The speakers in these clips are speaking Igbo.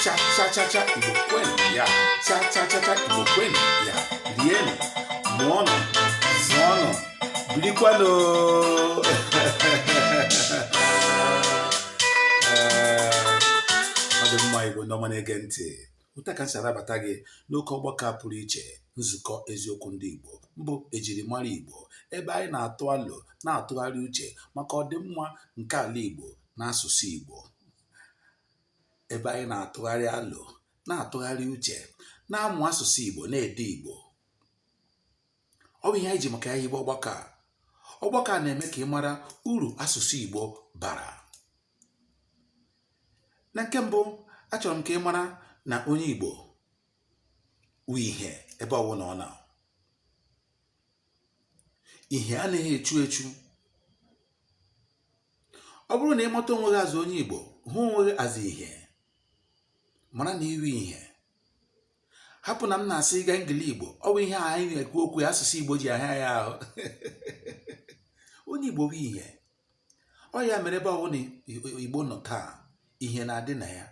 cha cha cha cha igbo kwenu ya cha cha cha cha igbo kwenu ya rienụ mụọnụ zụọnụ birikwanụ ọ dị mma igbo ndị ọma na-ege ntị otu a ka m si anabata gị n'oke ọgbakọ a pụrụ iche nzukọ eziokwu ndị igbo mbụ ejirimara igbo ebe anyị na-atụ alo na-atụgharị uche maka ọdịmma nke ala igbo na asụsụ igbo ebe anyị na-atụgharị alo na-atụgharị uche na-amụ asụsụ Igbo na-ede Igbo ọ bụ ihe anyị ji maka ya hibe ọgbakọ a ọgbakọ a na-eme ka ị mara uru asụsụ Igbo bara na nke mbụ achọrọ m ka ị mara na onye Igbo wu ihe ebe ọbụla ọ nọ ihe anaghị echu echu ọ bụrụ na ị mata onwe gị as onye Igbo hụ onwe gị as ihe mara na i wu ihe hapụ na m na-asụga Engli Igbo ọ bụ ihe anyị na-ekwu okwu ya asụsụ Igbo ji ahịa ya ahụ onye Igbo bụ ihe ọ ya mere ebe ọbụla Igbo nọ taa ihe na-adị na ya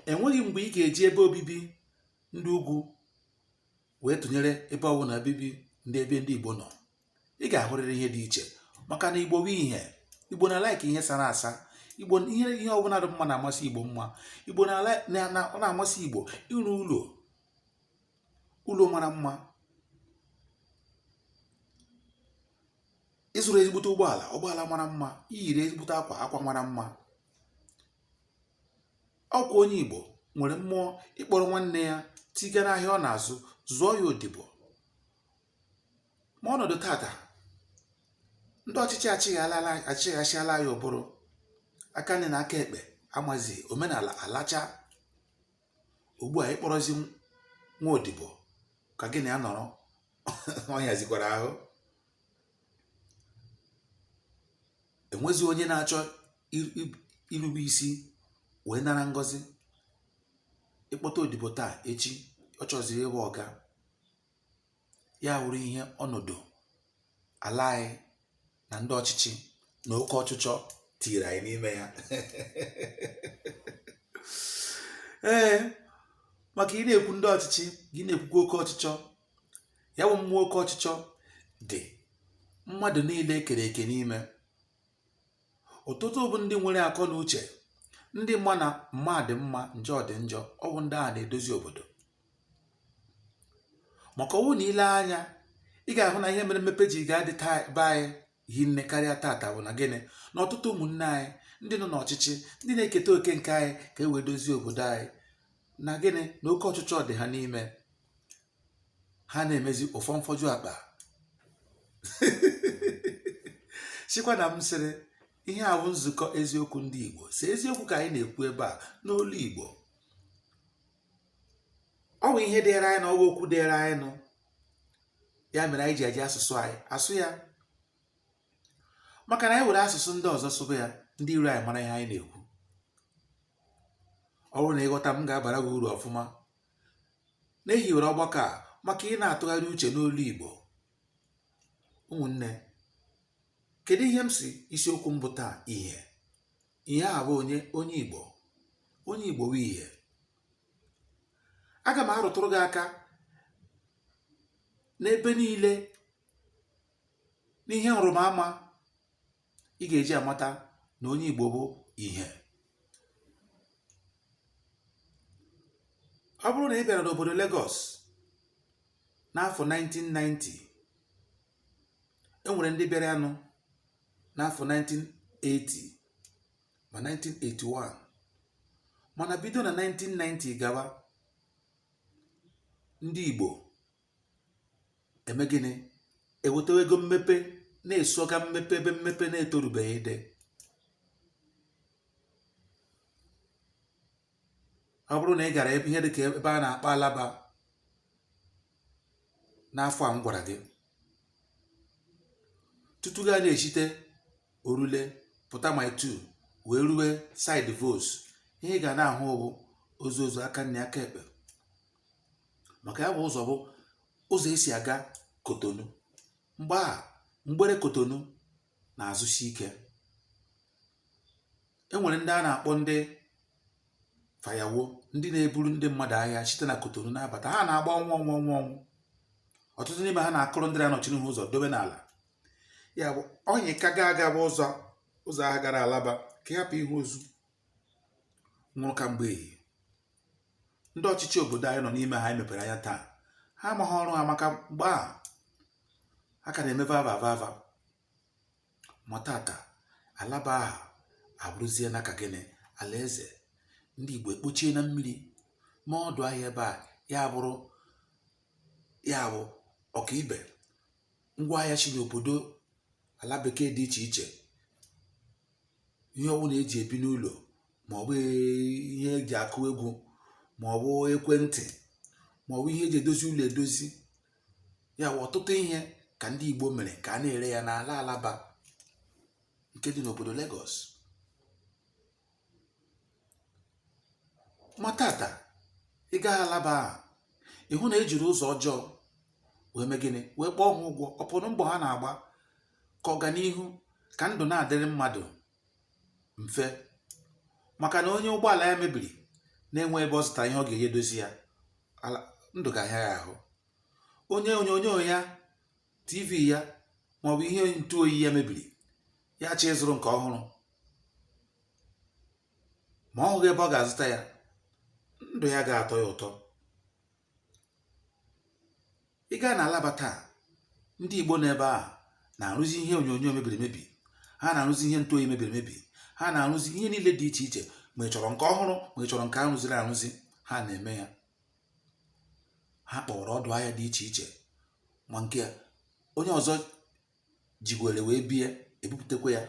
enweghị mgbe ị ga-eji ebe obibi ndị ugwu wee tụnyere ebe ọ bụla obibi ndị ebe ndị igbo nọ ị ga-ahụrịrị ihe dị iche maka na igbo bụ ihe igbo na-alike ihe sara asa igbo ihe ihe ọbụla dị mma na-amasị igbo mma igbo na-amasị igbo ịrụ ụlọ ụlọ mara mma ịzụrụ ezigbote ụgbọala ụgbọala mara mma iyiri ezigbote akwa akwa mara mma ọkwa onye Igbo nwere mmụọ ịkpọrọ nwanne ya tiga n'ahịa ọ na-azụ zụọ ya odibo ma ọnọdụ tata ndị ọchịchị achịghasịala anyị ụbụrụ aka nri na aka ekpe amazi omenala alacha ugbu a ịkpọrọzi nwa odibo ka gị na ya nọrọ ọ hịazikwara ahụ enwezi onye na-achọ irube isi wee nara ngọzi ịkpọta odibo taa echi ọ chọziri ịbụ ọga ya wụrụ ihe ọnọdụ ala anyị na ndị ọchịchị na oke ọchịchọ tiiri anyị n'ime ya ee maka ị na-ekwu ndị ọchịchị gị na-ekwukwa oke ọchịchọ ya bụ mmụọ oke ọchịchọ dị mmadụ niile ekere eke n'ime ọtụtụ bụ ndị nwere akọ na uche ndị ma na mma dị mma njọ dị njọ ọ bụ ndị ahụ na-edozi obodo maka ọ wụ na i lee anya ị ga-ahụ na ihe mere mmepe ji ga-adị taa be anyị hinne karịa tata bụ na gịnị na ọtụtụ ụmụnne anyị ndị nọ n'ọchịchị ndị na-eketa oke nke anyị ka e wee dozie obodo anyị na gịnị na oke ọchịchọ dị ha n'ime ha na-emezi ụfọ mfọju akpa sikwa na m sịrị ihe a wụ nzukọ eziokwu ndị Igbo si eziokwu ka anyị na-ekwu ebe a n'olu Igbo ọ bụ ihe dịịrị anyị nụ ọ wụ okwu dịịrị anyị nụ ya mere anyị ji eji asụsụ anyị asụ ya maka na anyị were asụsụ ndị ọzọ sụba ya ndị iro anyị mara ihe anyị na-ekwu ọ bụrụ na ị ghọta m ga-abara gị uru ọfụma na e hiwere ọgbakọ a maka ịna-atụgharị uche n'olu Igbo ụmụnne kedu ihe m si isiokwu mbụ taa ihe ihe a bụ onye onye Igbo onye Igbo bụ ihe aga m arụtụrụ gị aka n'ebe niile n'ihe nrịbama ị ga-eji amata na onye Igbo bụ ihe ọ bụrụ na ị bịara n'obodo Lagos n'afọ 1990 e nwere ndị bịaranụ n'afọ 1980 ma 1981 mana bido na 1990 gawa ndị Igbo emee gịnị ewetawa ego mmepe na-esoga mmepe ebe mmepe na-etorubeghị dị ọ bụrụ na ị gara ebe ihe dị ka ebe a na-akpọ Alaba n'afọ a m gwara gị tutu gị ana-eshite Orile pụta Mile Two wee rue side Volks ihe ị ga na-ahụ bụ ozu ozu aka nri aka ekpe maka ya bụ ụzọ bụ ụzọ e si aga Cotonou mgbe ahụ mgbere Cotonou na-azụsi ike e nwere ndị a na-akpọ ndị fayawo ndị na-eburu ndị mmadụ ahịa site na Cotonou na-abata ha na-agba ọnwụ ọnwụ ọnwụ ọnwụ ọtụtụ n'ime ha na-akụrụ ndị na-anọchi n'ihu ụzọ dobe n'ala ya bụ onye ka ga-aga bụ ụzọ ụzọ ahụ gara Alaba ka ị hapụ ịhụ ozu nwụrụ ka mgbe ehihie ndị ọchịchị obodo anyị nọ n'ime ha anyị mepere anya taa ha amaghị ọrụ ha maka mgbe ahụ ha ka na-eme vava vava ma tata Alaba ahụ abụrụzie n'aka gịnị alaeze ndị Igbo ekpochie na mmiri ma ọdụ ahịa ebe a ya bụrụ ya bụ ọkaibe ngwa ahịa si n'obodo ala bekee dị iche iche ihe ọbụla eji ebi n'ụlọ ma ọ bụ ihe eji akụ egwu ma ọ bụ ekwentị ma ọ bụ ihe eji edozi ụlọ edozi ya bụ ọtụtụ ihe ka ndị Igbo mere ka a na-ere ya n'ala Alaba nke dị n'obodo Lagos ma tata ị gaa alaba aha ị hụ na ejiri ụzọ ọjọọ wee mee gịnị wee kwụọ ha ụgwọ ọ pụrụ mbọ ha na-agba ka ọganihu ka ndụ na-adịrị mmadụ mfe maka na onye ụgbọala ya mebiri na-enwe ebe ọ zụta ihe ọ ga-eji edozi ya ndụ ga-ahịa ya ahụ onye onyonyo ya tv ya maọbụ ihe ntụ oyi ya mebiri ya chọọ ịzụrụ nke ọhụrụ ma ọ hụghị ebe ọ ga-azụta ya ndụ ya ga-atọ ya ụtọ ị gaa na alaba taa ndị igbo n'ebe a na-arụzi ihe onyonyo mebiri emebi ha na-arụzi ihe ntụ oyi mebiri emebi ha na-arụzi ihe niile dị iche iche ma ị chọrọ nke ọhụrụ ma ị chọrọ nke arụziri arụzi ha na-eme ya ha kpọwara ọdụ ahịa dị iche iche ma nke onye ọzọ jigwere wee bie ebupụtakwa ya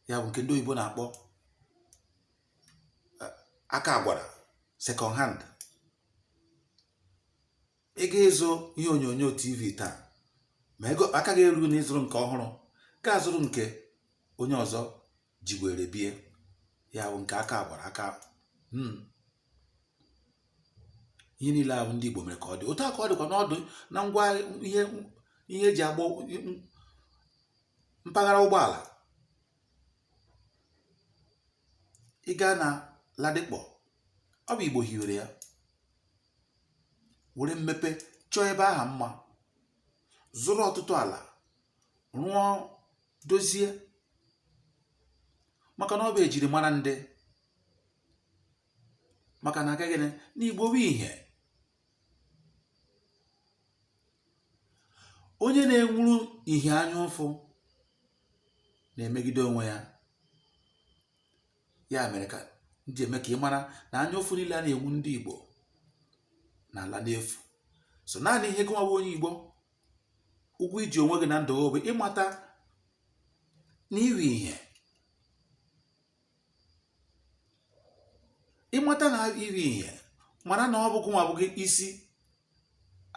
ya bụ nke ndị oyibo na-akpọ eh, aka agwara second hand ị ga ịzụ ihe onyonyo tv taa ma ego aka gị erughị na ịzụrụ nke ọhụrụ gaa zụrụ nke onye ọzọ ji were bie ya bụ nke aka gwara aka hmm. ihe niile ahụ ndị Igbo mere ka ọ dị otu a ka ọ dịkwa n'ọdụ na ngwa ihe ihe eji agba mpaghara ụgbọala ị gaa na Ladipo ọ bụ Igbo hiwere ya were mmepe chọọ ebe aha mma zụrụ ọtụtụ ala rụọ dozie maka na ọ bụ ejiri mara ndị maka na agaghị n'igbo bụ ihe onye na-enwuru ihe anya ụfụ na-emegide onwe ya ya mere ka m ji eme ka ị mara na anya ụfụ niile a na-enwu ndị Igbo na-ala n'efu sọ naanị ihe gụnwa onye Igbo ụgwọ i ji onwe gị na ndụ gị bụ ịmata na iri ihe ịmata na iri ihe mara na ọ bụ gụnwa bụ isi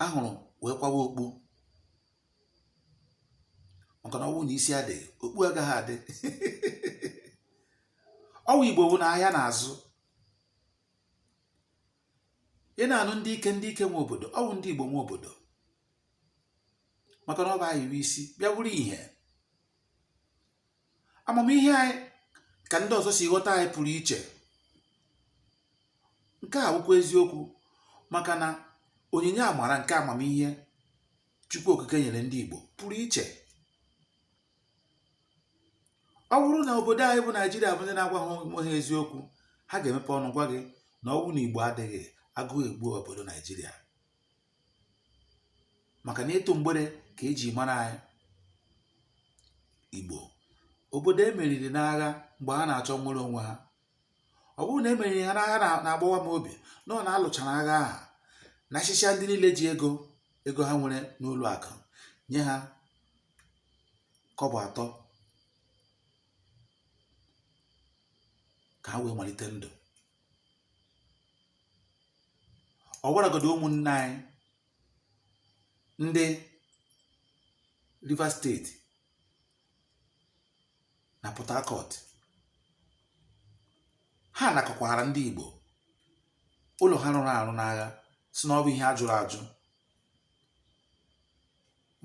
ahụrụ wee kwawa okpu maka na ọ wụ na isi adịghị okpu agaghị adị ọ wụ igbo bụ na ahịa na-azụ ị na-anụ ndị ike ndị ike nwe obodo ọ wụ ndị Igbo nwe obodo maka na ọ bụ anyị bụ isi bịa wụrụ ihe amamihe anyị ka ndị ọzọ si ghọta anyị pụrụ iche nke a wụkwa eziokwu maka na onyinye amara nke amamihe Chukwu Okike nyere ndị Igbo pụrụ iche ọ wụrụ na obodo anyị bụ naijiria bụ ndị na-agwa ha onwe ha eziokwu ha ga-emepe ọnụ gwa gị na ọ wụrụ na igbo adịghị agụụ egbu obodo naijiria maka na ịtụ mgbere ka e ji mara anyị igbo obodo e meriri n'agha mgbe ha na-achọ nnwere onwe ha ọ bụrụ na e meriri ha n'agha na- na-agbawa m obi na ọ na a lụchara agha ahụ nachịchaa ndị niile ji ego ego ha nwere n'ụlọ akụ nye ha kọbọ atọ ka ha wee malite ndụ ọ bụragodo ụmụnne anyị ndị Rivers steeti na Port Harcourt ha nakọkwara ndị Igbo ụlọ ha rụrụ arụ n'agha sị na ọ bụ ihe a jụrụ ajụ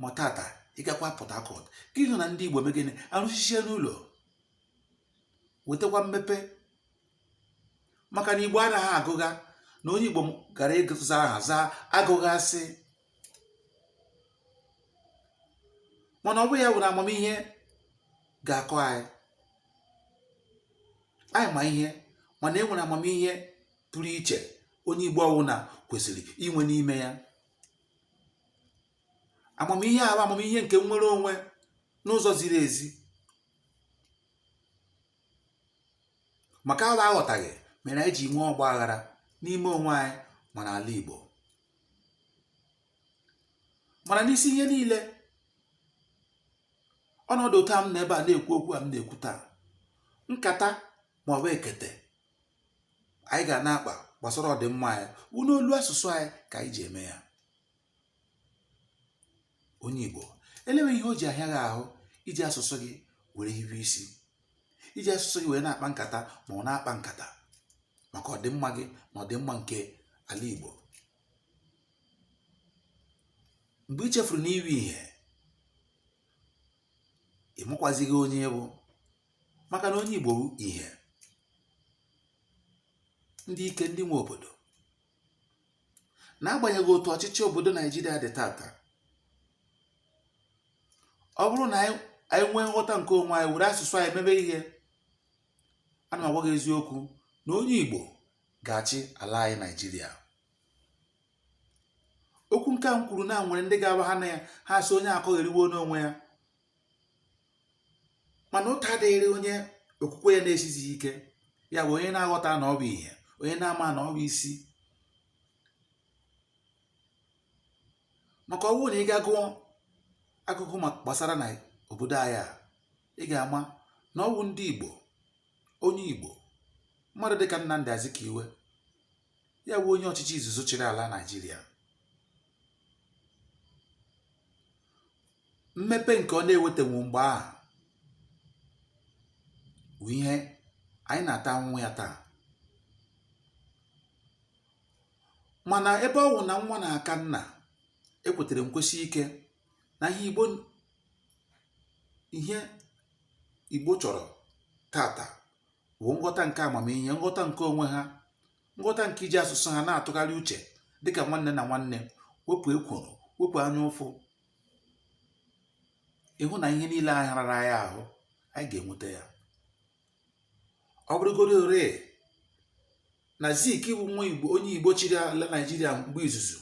ma tata ị gakwa Port Harcourt gị hụ na ndị Igbo mee gịnị arụchịchaana ụlọ wetakwa mmepe maka na Igbo anaghị agụgha na onye Igbo gara ịza aha zaa agụghasị mana ọ bụ ya wụ na amamihe ga-akọ anyị anyị ma ihe mana e nwere amamihe pụrụ iche onye Igbo ọwụna kwesịrị inwe n'ime ya amamihe ahụ amamihe nke nnwere onwe n'ụzọ ziri ezi maka ala aghọtaghị mere anyị ji nwee ọgba aghara n'ime onwe anyị ma n'ala Igbo mana n'isi ihe niile ọnọdụ otu a m nọ ebe a na-ekwu okwu a m na-ekwu taa nkata ma ọ bụ ekete anyị ga na-akpa gbasara ọdịmma anyị wụ n'olu asụsụ anyị ka anyị ji eme ya onye Igbo elewe ihe o ji ahịa gị ahụ iji asụsụ gị were hiwe isi iji asụsụ gị wee na-akpa nkata ma ọ wụ na-akpa nkata maka ọdịmma gị na ọdịmma nke ala Igbo mgbe ị chefuru na ị wụ ihe ị makwazighị onye ị bụ maka na onye Igbo bụ ihe ndị ike ndị nwe obodo n'agbanyeghị otu ọchịchị obodo naijiria dị taata ọ bụrụ na anyị anyị nwee nghọta nke onwe anyị were asụsụ anyị mebe ihe ana m agwa gị eziokwu na onye igbo ga-achị ala anyị naijiria okwu nke a m kwuru na e nwere ndị ga-awụ ha nụ ya ha sị onye akọgheriwe n'onwe ya mana ụta adịghịrị onye okwukwe ya na-esizighị ike ya bụ onye na-aghọta na ọ bụ ihe onye na-ama na ọ bụ isi maka ọ wụ na ị gaa gụọ akụkọ gbasara na obodo anyị a ị ga-ama na ọ wụ ndị Igbo onye Igbo mmadụ dịka Nnamdi Azikiwe ya bụ onye ọchịchị izizi chịrị ala naijiria mmepe nke ọ na-ewetanwu mgbe ahụ bụ ihe anyị na-ata ahụhụ ya taa mana ebe ọ wụ na nwa na-aka nna ekwetere m kwesie ike na ihe igbo ihe igbo chọrọ taata bụ nghọta nke amamihe nghọta nke onwe ha nghọta nke iji asụsụ ha na-atụgharị uche dịka nwanne na nwanne wepụ ekworo wepụ anya ụfụ ị hụ na ihe niile ahụ rara anyị ahụ anyị ga-enweta ya ọ bụrụgoro ore na zik bụ nwa igbo onye igbo chịrị ala naijiria mgbe izizi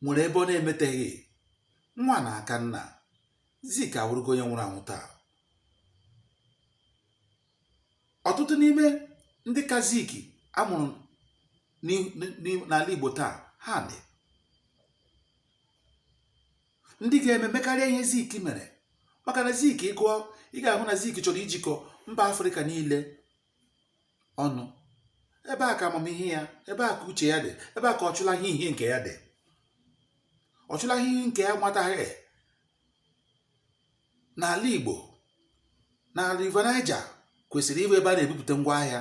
nwere ebe ọ na-emeteghị nwa na-aka nna zik awụrụgo onye nwụrụ anwụ taa ọtụtụ n'ime ndị ka zik a mụrụ n'ala Igbo taa ha dị ndị ga-eme mekarịa ihe zik mere maka na zik ị gụọ ị ga-ahụ na zik chọrọ ijikọ mba afrịka niile ọnụ ebe a ka amamihe ya ebe a ka uche ya dị ebe a ka ọ chụlaghị ihe nke ya dị ọ chụlaghị ihe nke ya nwataghị n'ala Igbo na River Niger kwesịrị ịbụ ebe a na-ebupụta ngwa ahịa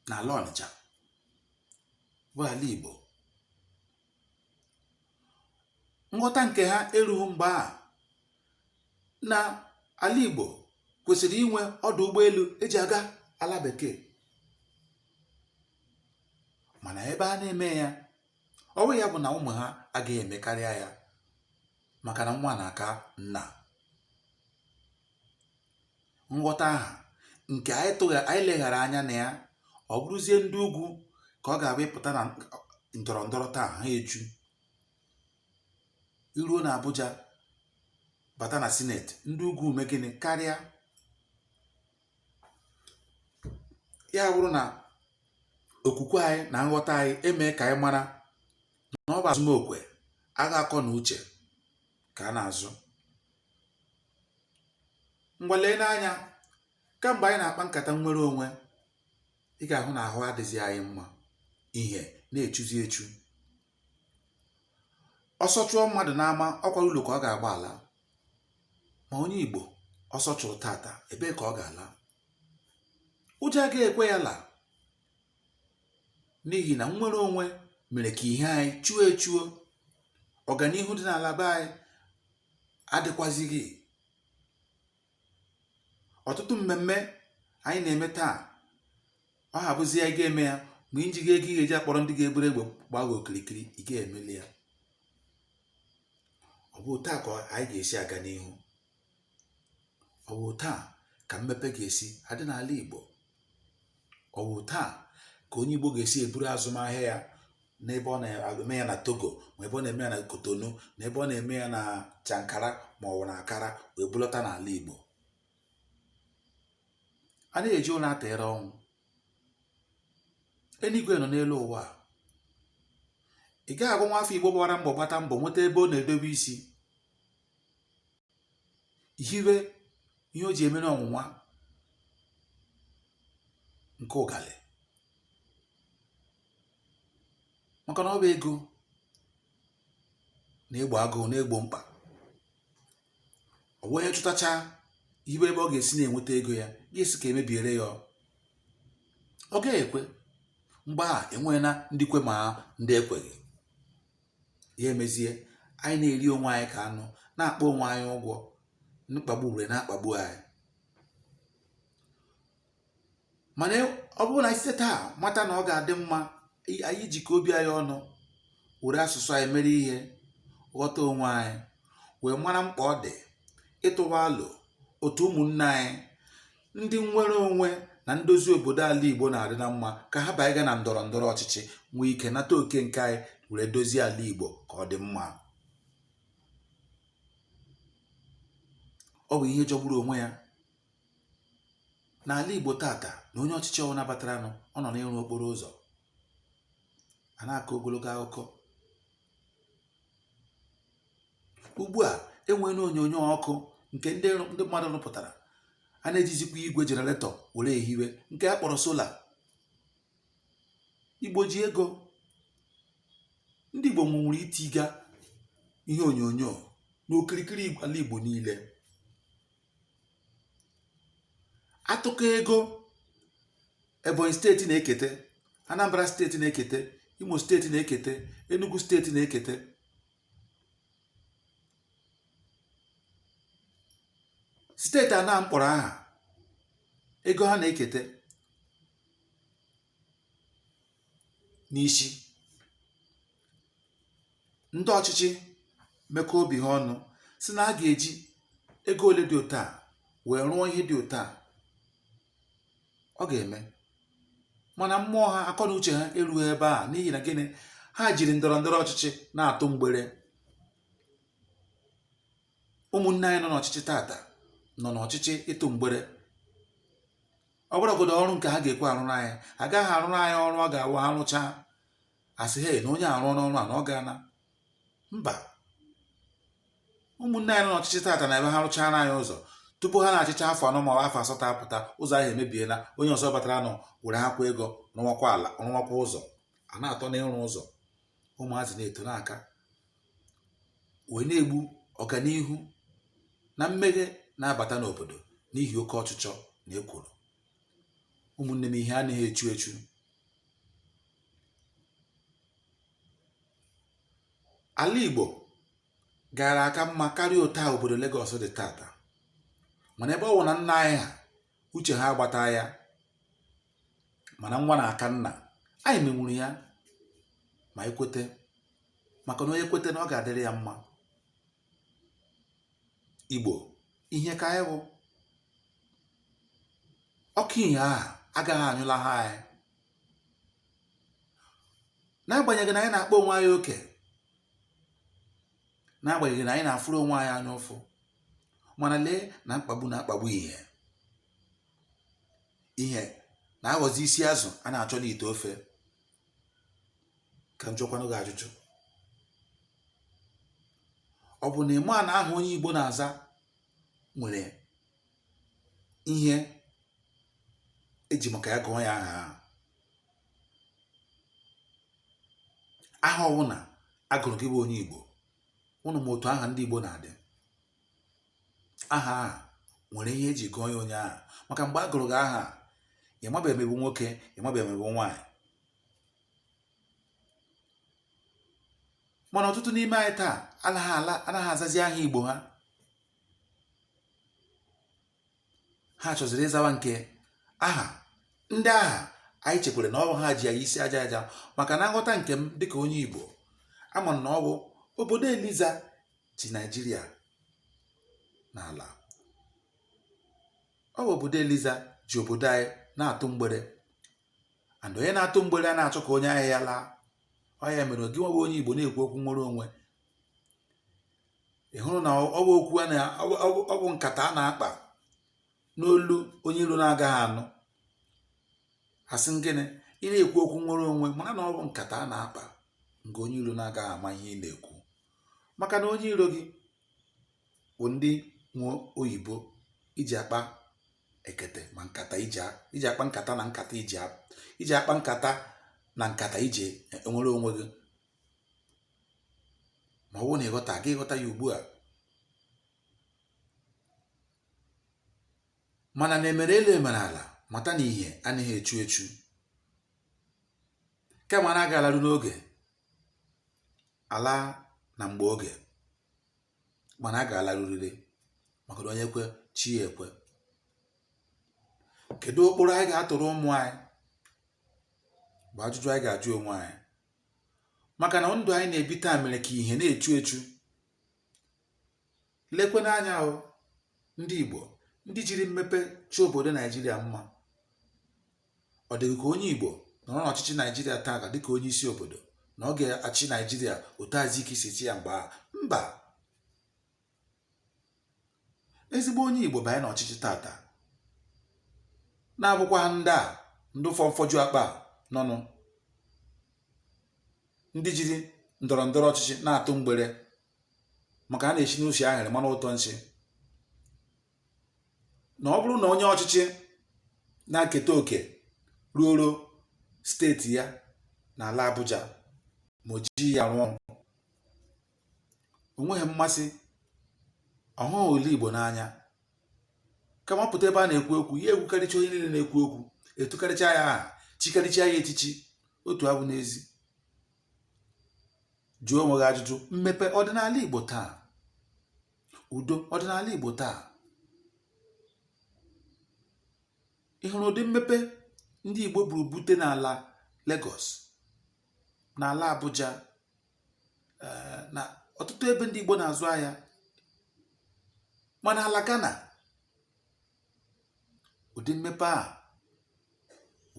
n'ala Ọnịcha bụ ala Igbo nghọta nke ha erughị mgbe a na ala Igbo kwesịrị inwe ọdụ ụgbọelu e ji aga ala bekee mana ebe a na-eme ya ọ wụghị ya bụ na ụmụ ha agaghị emekarịa ya maka na nwa na-aka nna nghọta ahụ nke anyị leghara anya na ya ọ bụrụzie ndị ugwu ka ọ ga-abụ ị pụta na ndọrọ ndọrọ taa ha eju i ruo na Abuja bata na sineti ndị ugwu eme gịnị karịa ya bụrụ na okwukwe anyị na nghọta anyị emee ka anyị mara na ọ bụ azụmokwe agha akọ na uche ka a na-azụ ngwa lee n'anya kamgbe anyị na-akpa nkata nnwere onwe ị ga-ahụ na ahụ adịghị anyị mma ihe na-echuzi echu ọsọ chụọ mmadụ n'ama ọkwa ụlọ ka ọ ga-agbala ma onye igbo ọsọ chụrụ tata ebee ka ọ ga-ala ụjọ agaghị ekwe ya la n'ihi na nnwere onwe mere ka ihe anyị chuo echuo ọganihu dị n'ala be anyị adịkwazighị ọtụtụ mmemme anyị na-eme taa ọ habụzi ya ị ga-eme ya ma i jighị ego ị ga-eji akpọrọ ndị ga-eburu egbe gbaa gị okirikiri ị ga-emeli ya ọ bụ otu a ka anyị ga-esi aga n'ihu ọ bụ otu a ka mmepe ga-esi adị n'ala Igbo ọ bụ otu a ka onye Igbo ga-esi eburu azụmahịa ya n'ebe ọ na-eme ya na Togo ma ebe ọ na-eme ya na Cotonou na ebe ọ na-eme ya na Chankara ma ọ bụ na Accra wee bulọta n'ala Igbo a na-eji ụlọ atịrị ọnwụ eluigwe nọ n'elu ụwa ị gaghị agwa nwa afọ Igbo gbara mbọ gbata mbọ nweta ebe ọ na-edobe isi hiwe ihe o ji emere ọnwụnwa nke ụgalị maka na ọ bụ ego na-egbo agụụ na-egbo mkpa ọ wee chụtacha ibe ebe ọ ga-esi na-enweta ego ị ga-asị ka e mebiere ya ọ gaghị ekwe mgbe ahụ e nwee na ndị kwe ma ndị ekweghị ya emezie anyị na-eri onwe anyị ka anụ na-akpọ onwe anyị ụgwọ mkpagbu were na-akpagbu anyị mana ọ bụrụ na anyị site taa mata na ọ ga-adị mma anyị jikọ obi anyị ọnụ were asụsụ anyị mere ihe ghọta onwe anyị wee mara mkpa ọ dị ịtụwa alo otu ụmụnne anyị ndị nnwere onwe na ndozi obodo ala igbo na-adị na mma ka ha banye na ndọrọ ndọrọ ọchịchị nwee ike nata oke nke anyị were dozie ala igbo ka ọ dị mma ọ bụ ihe jọgburu onwe ya n'ala igbo tata na onye ọchịchị ọwụna bataranụ ọ nọ n'ịrụ okporo ụzọ a na-akọ ogologo akụkọ ugbu a e nweene onyonyo ọkụ nke ndị mmadụ rụpụtara a na-ejizikwa igwe generator were ehiwe nke a kpọrọ solar igbo ji ego ndị igbo nwere itiga ihe onyonyo n'okirikiri ala igbo niile atụkọ ego ebonyi steeti na-eketa anambra steeti na-eketa imo steeti na-eketa enugu steeti na-eketa steeti a na m kpọrọ aha ego ha na-eketa n'isi ndị ọchịchị mekọọ obi ha ọnụ sị na a ga-eji ego ole dị otu a wee rụọ ihe dị otu a ọ ga-eme mana mmụọ ha akọ na uche ha erughị ebe a n'ihi na gịnị ha jiri ndọrọ ndọrọ ọchịchị na-atụ mgbere ụmụnne anyị nọ n'ọchịchị tata nọ n'ọchịchị ịtụ mgbere ọ bụrụgodo ọrụ nke ha ga-ekwe arụrụ anyị agaghị arụrụ anyị ọrụ ọ ga-awụ ha rụchaa a sị he na onye a rụrụ ọrụ a na ọ gbaana mbọ ụmụnne anyị nọ n'ọchịchị tata na ebe ha rụchara anyị ụzọ tupu ha na-achịcha afọ anọ ma afọ asatọ apụta ụzọ ahụ emebiela onye ọzọ bataranụ werekwa ego rụwakwa ala rụwakwa ụzọ a na-atọ n'ịrụ ụzọ ụmụazị na-eto n'aka wee na-egbu ọganihu na mmeghe na-abata n'obodo n'ihi oke ọchịchọ na ekworo ụmụnne m ihe anaghị echu echu ala igbo gara aka mma karịa otu a obodo Lagos dị tata mana ebe ọ bụ na nna anyị ha uche ha agbataa ya mana nwa na aka nna anyị menwuru ya ma e kwete maka na onye kwete na ọ ga-adịrị ya mma igbo ihe ka anyị bụ ọkụ ihe ahụ agaghị anyụlaha anyị n'agbanyeghị na anyị na-akpa onwe anyị oke n'agbanyeghị na anyị na-afụrụ onwe anyị anya ụfụ mana lee na mkpagbu na-akpagbu ihe ihe na-aghọzi isi azụ a na-achọ n'ite ofe ka m jụọkwanụ gị ajụjụ ọ bụ na ị ma na aha onye Igbo na-aza nwere ihe e ji maka ya gụọ ya aha ahụ aha ọbụla a gụrụ gị bụ onye Igbo unu ma otu aha ndị Igbo na-adị aha a nwere ihe e ji gụọ ya onye ahụ maka mgbe a gụrụ gị aha ị mabeghị emegbu nwoke ị mabeghị emegbu nwaanyị mana ọtụtụ n'ime anyị taa anaghị ala anaghị azazi aha igbo ha ha chọziri ịzawa nke aha ndị ahụ anyị chekwere na ọ bụ ha ji anyị isi aja aja maka na nghọta nke m dịka onye Igbo ama na ọ bụ obodo Eliza ji Naijiria n'ala ọ bụ obodo Eliza ji obodo anyị na-atụ mgbere and onye na-atụ mgbere anaghị achọ ka onye ahịa ya laa ọ ya mere gịnwa wụ onye Igbo na-ekwu okwu nwere onwe ị hụrụ na ọ bụ okwu a na ọ bụ nkata a na-akpa n'olu onye iro na-agaghị anụ a sị gị na ị na-ekwu okwu nwere onwe mara na ọ bụ nkata a na-akpa nke onye iro na-agaghị ama ihe ị na-ekwu maka na onye iro gị bụ ndị nwe oyibo iji akpa ekete ma nkata iji akpa nkata na nkata iji akpa nkata na nkata iji enwere onwe gị ma ọ bụrụ na ị ghọtaghị ị ghọta ya ugbu a mara na e mere elu e mere ala mata na ihe anaghị echu echu kama na a ga-alaru n'oge ala na mgbe oge mana a ga-alaruriri maka na onye kwe chi ya ekwe kedu ụkpụrụ anyị ga-atụrụ ụmụ anyị bụ ajụjụ anyị ga-ajụ onwe anyị maka na ndụ anyị na-ebi taa mere ka ihe na-echu echu lekwe n'anya hụ ndị Igbo ndị jiri mmepe chọ obodo Naijiria mma ọ dị gị ka onye Igbo nọrọ n'ọchịchị Naijiria taata dịka onye isi obodo na ọ ga-achị Naijiria otu Azikiwe si chịa ya mgbe ahụ mba ezigbo onye igbo banye n'ọchịchị taata na-abụkwaghị ndị a ndị ụfọ mfọju akpa nọnụ ndị jiri ndọrọ ndọrọ ọchịchị na-atụ mgbere maka a na-esi n'usi ahụrụ mara ụtọ nsị na ọ bụrụ na onye ọchịchị na-eketa oke ruoro steeti ya n'ala Abuja ma o ji ya rụọ ọrụ o nweghị mmasị ọ hụghị ala igbo n'anya kama pụta ebe a na-ekwu okwu ya ekwukarịcha onye niile na-ekwu okwu etukarịcha ya aha chikarịcha ya echichi otu a bụ n'ezi jụọ onwe gị ajụjụ mmepe ọ dị n'ala igbo taa udo ọ dị n'ala igbo taa ị hụrụ ụdị mmepe ndị igbo buru bute n'ala Lagos n'ala Abuja eh, na ọtụtụ ebe ndị Igbo na-azụ ahịa ma n'ala Ghana ụdị mmepe a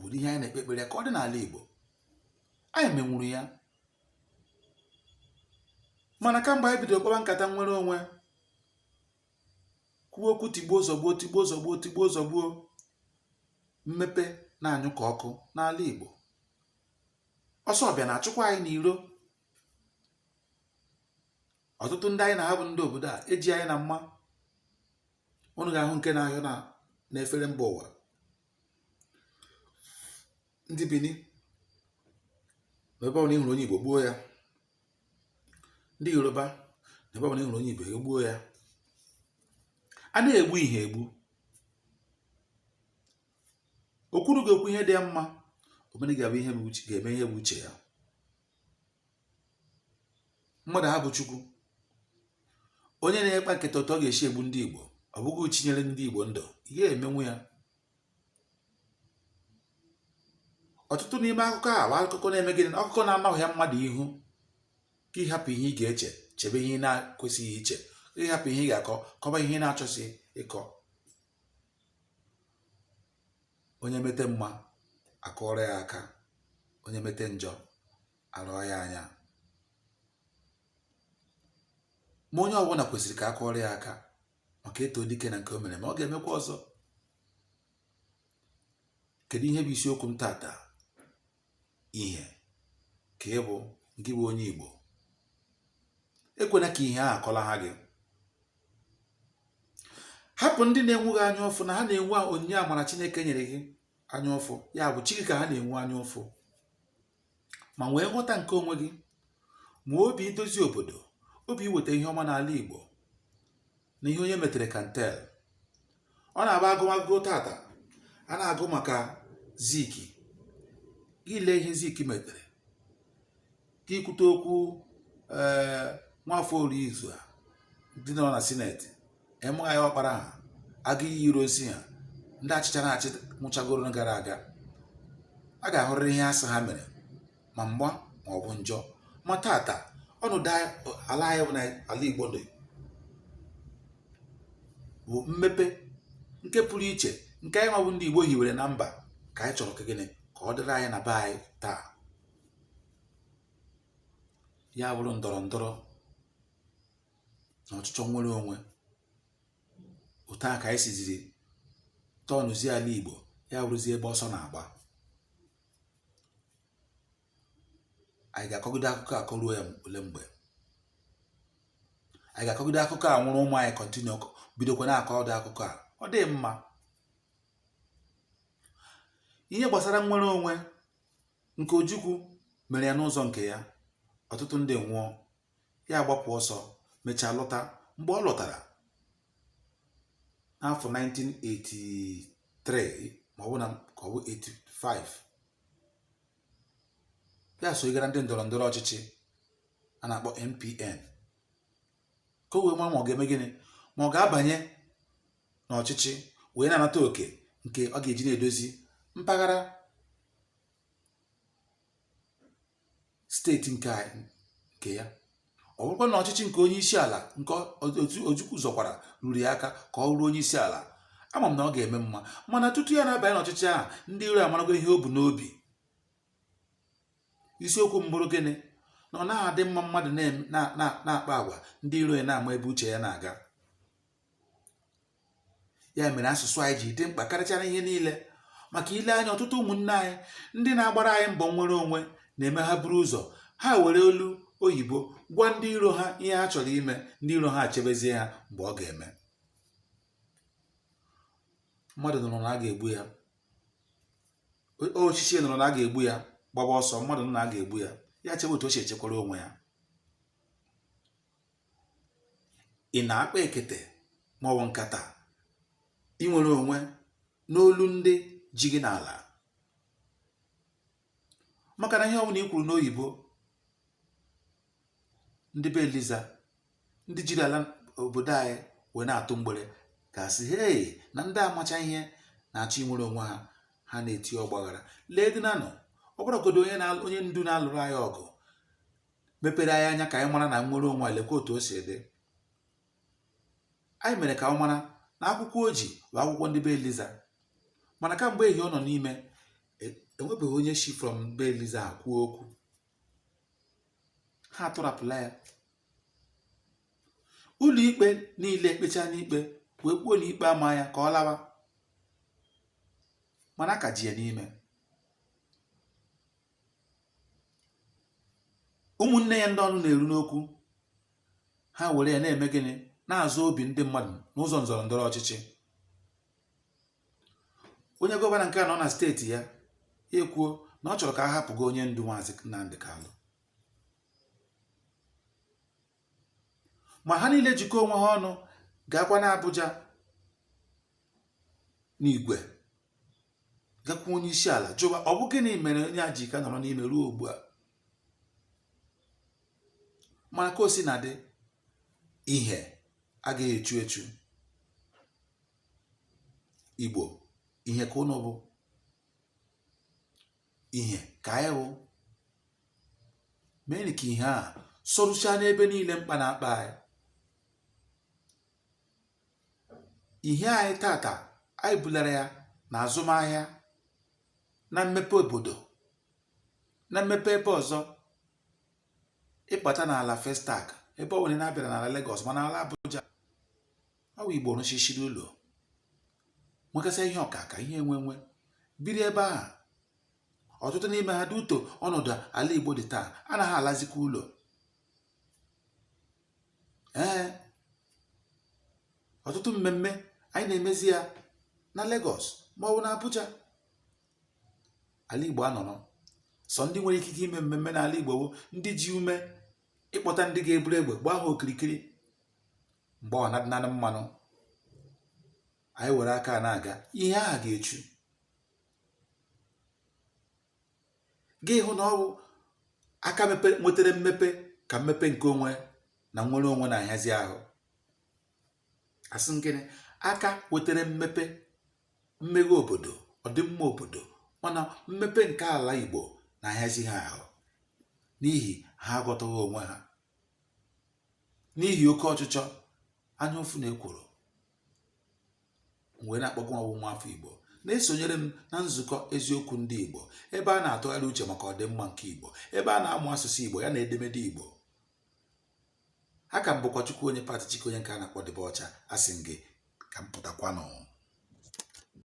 ụdị ihe anyị na-ekpe ekpere ka ọ dị n'ala Igbo anyị menwuru ya mana kamgbe anyị bidoro kpaba nkata nwere onwe kwube okwu tigbuo zọgbuo tigbuo zọgbuo tigbuo zọgbuo mmepe na-anyụ ka ọkụ n'ala Igbo ọsọ ọbịa na-achụkwa anyị n'iro ọtụtụ ndị anyị na ha bụ ndị obodo a eji anyị na mma ụnụ ga-ahụ nke na-ahịọ n'efere mba ụwa ndị bini na ebe ọbụla ịhụrụ onye igbo gbuo ya ndị yoruba na ebe ọbụla ịhụrụ onye igbo egbuo ya a na-egbu ihe egbu okwuru ga-ekwu ihe dị ya mma omene ga-eme ihe bụ uche ya mmadụ ha bụ chukwu onye na-akpa nkata otu ọ ga-esi egbu ndị igbo ọ bụghị chi nyere ndị igbo ndụ ị ga-emenwu ya ọtụtụ n'ime akụkọ a bụ akụkọ na-eme gịnị akụkọ na-anagha mmadụ ihu ka ịhapụ ihe ị ga-eche chebe ihe ị na-ekwesịghị iche ịhapụ ihe ị ga-akọ kọba ihe ị na-achọsị ịkọ onye mete mma akụọrọ ya aka onye mete njọ arụọ ya anya ma onye ọbụla kwesịrị ka akụọrọ ya aka maka e too dike na nke o mere mma ọ ga-emekwa ọzọ kedu ihe bụ isiokwu m tata ihe ka ị bụ gị bụ onye Igbo ekwena ka ihe a kọlaha gị hapụ ndị na-enwe gị anya ụfụ na ha na-enwe onyinye amara Chineke nyere gị anya ụfụ ya bụ chi gị ka ha na-enwe anya ụfụ ma nwee nghọta nke onwe gị ma obi idozi obodo obi iweta ihe ọma n'ala Igbo na ihe onye metere ka ntel ọ na-abụ agụmagụ tata a na-agụ maka zik gị lee ihe zik metere ka ikwute okwu ee eh, nwafọ orizu ha ndị nọ na sineti M I ọkpara ha aguiyi ironsi ha ndị ọchịchị na-achị nwụchagoro gara aga a ga-ahụrịrị ihe a sị ha mere ma mma ma ọ bụ njọ ma tata ọnọdụ ala anyị bụ na ala Igbo dị bụ mmepe nke pụrụ iche nke anyị nwa bụ ndị Igbo hiwere na mba ka anyị chọrọ ka gịnị ka ọ dịrị anyị na be anyị taa ya bụrụ ndọrọ ndọrọ na ọchịchọ nwere onwe otu a ka anyị siziri tọnụzie ala Igbo ya bụrụzie ebe ọsọ na-agba anyị ga-akọgide akụkọ a kọruo ya ole mgbe anyị ga-akọgide akụkọ a nwụrụ ụmụ anyị kọntinu bidokwa na-akọ ụdị akụkọ a ọ dịghị mma ihe gbasara nnwere onwe nke Ojukwu mere ya n'ụzọ nke ya ọtụtụ ndị nwụọ ya agbapụ ọsọ mechaa lọta mgbe ọ lọtara n'afọ 1983 ma ọ bụ na ka ọ bụ 85 ya sogara ndị ndọrọ ndọrọ ọchịchị a na-akpọ NPN ka o wee mara ma ọ ga-eme gịnị ma ọ ga-abanye n'ọchịchị wee na-anata oke nke ọ ga-eji na-edozi mpaghara steeti nke nke ya ọ bụrụkwa na ọchịchị nke onye isi ala nke Ojukwu zọkwara ruru ya aka ka ọ bụrụ onye isi ala ama m na ọ ga-eme mma mana tutu ya na-abanye n'ọchịchị ahụ ndị iro amarago ihe o bu n'obi isiokwu m bụrụ gịnị na ọ naghị adị mma mmadụ na-akpa agwa ndị iro ya na-ama ebe uche ya na-aga ya mere asụsụ anyị ji dị mkpa karịchara ihe niile maka i lee anya ọtụtụ ụmụnne anyị ndị na-agbara anyị mbọ nnwere onwe na-eme ha buru ụzọ ha were olu oyibo gwa ndị iro ha ihe ha chọrọ ime ndị iro ha achebezie ha mgbe ọ ga-eme mmadụ nụrụ na a ga-egbu ya ochichi nụrụ na a ga-egbu ya gbaba ọsọ mmadụ nụ na a ga-egbu ya ya chebe otu o si echekwara onwe ya ị na-akpa ekete maọbụ nkata inwere onwe n'olu ndị ji gị n'ala maka na ihe ọbụla i kwuru n'oyibo ndị be eliza ndị jiri ala obodo anyị wee na-atụ mgbere ga-asị hei na ndị amacha ihe na-achọ inwere onwe ha ha na-eti ọgbaghara lee dị nanụ ọ bụrụgodu onye ndu na-alụrụ anyị ọgụ mepere anyị anya ka anyị mara na nnwere onwe lekwa otu o si dị anyị mere ka ọ mara na akwụkwọ o ji bụ akwụkwọ ndị be eliza mana kamgbe ehi ọ nọ n'ime e- enwebeghị onye shi from be eliza kwuo okwu ha atọrapụla ya ụlọ ikpe niile ekpechaala ikpe wee kwuo na ikpe amaghị ya ka ọ lawa mana a ka ji ya n'ime ụmụnne ya ndị ọnụ na-eru n'okwu ha were ya na-eme gịnị na-azụ obi ndị mmadụ n'ụzọ nzọrọ ndọrọ ọchịchị onye gọvanọ nke a nọ na steeti ya ekwuo na ọ chọrọ ka a hapụgo onye ndu maazị Nnamdi Kanu ma ha niile jikọ onwe ha ọnụ gaakwa n'Abuja n'igwe gakwuo onye isi ala jụwa ọ bụ gịnị mere onye a ji ka nọrọ n'ime ruo ugbu a mana ka o sina dị ihe agaghị echu echu Igbo ihe ka unu bụ ihe ka anyị bụ meenụ ka ihe a sọrụchaa n'ebe niile mkpa na-akpa anyị ihe anyị taata anyị bulara ya na azụmahịa na mmepe obodo na mmepe ebe ọzọ ị bata n'ala Festac ebe ọ nwere na-abịara n'ala Lagos ma n'ala Abuja ọ bụ Igbo rụchichiri ụlọ nwekasịa ihe akụ akụ ihe enwe enwe biri ebe ahụ ọtụtụ n'ime ha due to ọnọdụ ala Igbo dị taa anaghị alazikwa ụlọ ee ọtụtụ mmemme anyị na-emezi ya na Lagos ma ọ bụ na Abuja ala Igbo anọrọ sọ ndị nwere ikike ime mmemme n'ala Igbo bụ ndị ji ume ịkpọta ndị ga-eburu egbe gbaa ha okirikiri mgbe ọ na-adịnanị mmanụ anyị were aka na-aga ihe ahụ ga-echu gị hụ na ọ wụ aka nwetere mmepe ka mmepe nke onwe na nnwere onwe na-ahịazi ahụ asị m gị na aka wetara mmepe mmeghe obodo ọdịmma obodo mana mmepe nke ala Igbo na-ahịazi ha ahụ n'ihi ha aghọtaghị onwe ha n'ihi oke ọchịchọ anya ụfụ na ekworo wee na-akpọkwa ọ wụ nwa afọ Igbo na-esonyere m na nzukọ eziokwu ndị Igbo ebe a na-atụgharị uche maka ọdịmma nke Igbo ebe a na-amụ asụsụ Igbo ya na edemede Igbo aka m bụkwa Chukwuonye Pat Chike onye nke a na-akpọ Dibia Ọcha asị m gị ka m pụtakwanụ